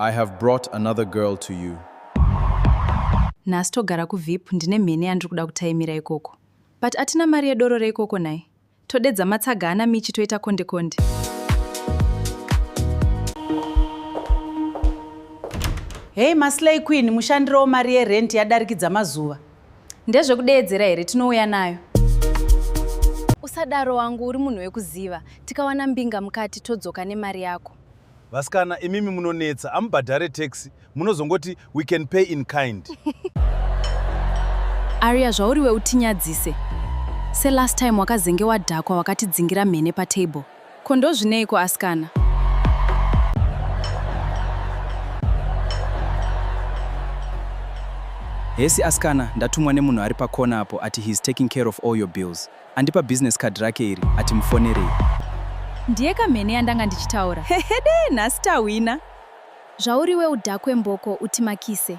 I have brought another girl to you. Nhasi togara kuVip ndine mhene yandiri kuda kutaimira ikoko. But atina mari yedoro reikoko naye. Todedza matsaga ana Michi toita konde konde. Hey maslay queen mushandiro mari yerent yadarikidza mazuva. Ndezvekudeedzera here tinouya nayo. Usadaro wangu uri munhu wekuziva. Tikawana mbinga mukati todzoka nemari yako. Vasikana imimi munonetsa amubhadhare taxi munozongoti we can pay in kind. Aria zvauriwe utinyadzise. Se last time wakazenge wadhakwa wakatidzingira mhene patable. Ko ndozvineiko askana? Hesi askana, ndatumwa nemunhu ari pakona apo ati he is taking care of all your bills. Andipa business card rake iri ati mufonerei. Ndiye kamhene yandanga ndichitaura. Hehede, nhasi tahwina. Zvauriwe udhakwe mboko utimakise.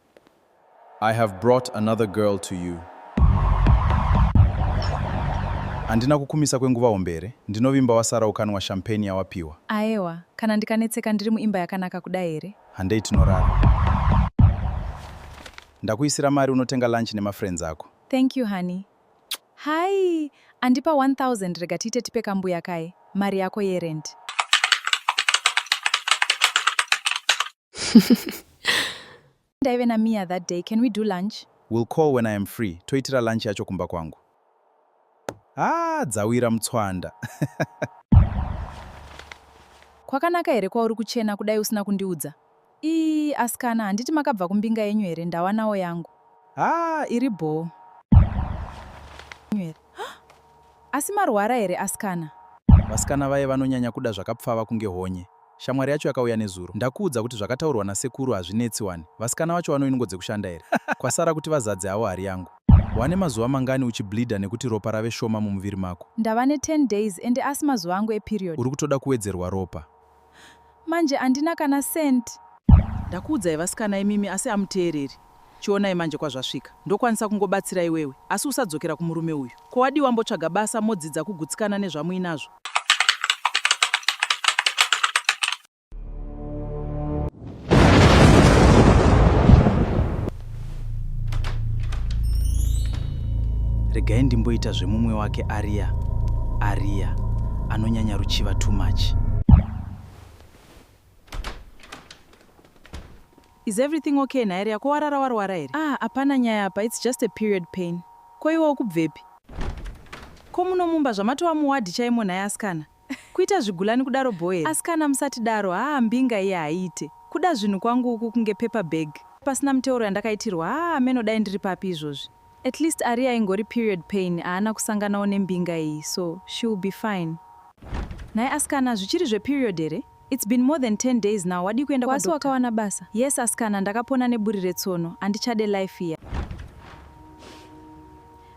I have brought another girl to you. Handina kukumisa kwenguva hombe here? Ndinovimba wasara ukanwa champagne yawapiwa. Aewa, kana ndikanetseka ndiri muimba yakanaka kudai here? Handei tinorara. Ndakuisira mari unotenga lunch nemafriends ako. Thank you honey. Hai, andipa 1000 rega tiite tipe kambuya kaye mari yako yerent. Ndaive na Mia that day, can we do lunch? Will call when I am free, toitira lunch yacho kumba kwangu. Ah, dzawira mutswanda. Kwakanaka here kwauri kuchena kudai usina kundiudza? Ii, asikana, handiti makabva kumbinga yenyu here, ndawanawo yangu. Ah, iri bhoo. Asi marwara here asikana? Vasikana vaye vanonyanya kuda zvakapfava kunge honye. Shamwari yacho yakauya nezuro. Ndakuudza kuti zvakataurwa nasekuru hazvinetsi wani. Vasikana vacho vano inungo dzekushanda here? Kwasara kuti vazadze havo hari yangu. Wane mazuva mangani uchi bleeder nekuti ropa rave shoma mumuviri mako? Ndava ne 10 days ende asi mazuva angu e period. Uri kutoda kuwedzerwa ropa? Manje andina kana cent. Ndakuudzai vasikana imimi asi amuteereri. Chionai manje kwazvasvika. Ndokwanisa kungobatsira iwewe asi usadzokera kumurume uyu. Ko wadii wambotsvaga basa modzidza kugutsikana nezvamuinazvo? regai ndimboita zvemumwe wake ariya ariya anonyanya ruchiva too much is everything okay nhai riya ko warara warwara here ah hapana nyaya apa its just a period pain ko iwe ukubvepi ko muno mumba zvamatova muwadhi chaimo nhai asikana Kuita zvigulani kudaro bho here. Askana musatidaro haa mbinga iye haiite. Kuda zvinhu kwangu uku kunge paper bag. Pasina muteuro yandakaitirwa haa hameno dai ndiri papi izvozvi. At least Aria ingori period pain haana kusanganawo nembinga iyi so she will be fine. Nhai askana zvichiri zveperiod here? It's been more than 10 days now wadii kuenda kwa doctor? Kwasi wakawana basa? Yes askana ndakapona neburi retsono handichade life iya.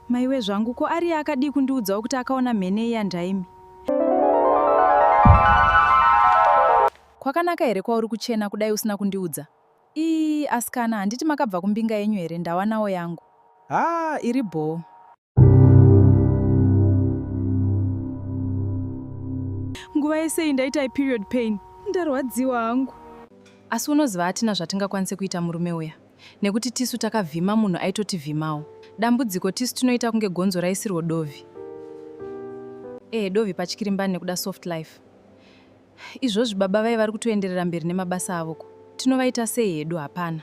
Maiwe zvangu ko ariye akadii kundiudzawo kuti akaona mhene iya ndaimi. Kwakanaka here kwauri kuchena kudai usina kundiudza? Ii askana handiti makabva kumbinga yenyu here ndawanawo yangu. Haa iri bhoo. nguva yese iyi ndaita iperiod pain ndarwadziwa hangu asi unoziva hatina zvatingakwanise kuita murume uya nekuti tisu takavhima munhu aitotivhimawo dambudziko tisu tinoita kunge gonzo raisirwo dovi ehe dovi patyirimbani nekuda soft life izvozvi baba vaye vari kutoenderera mberi nemabasa avo ko tinovaita sei hedu hapana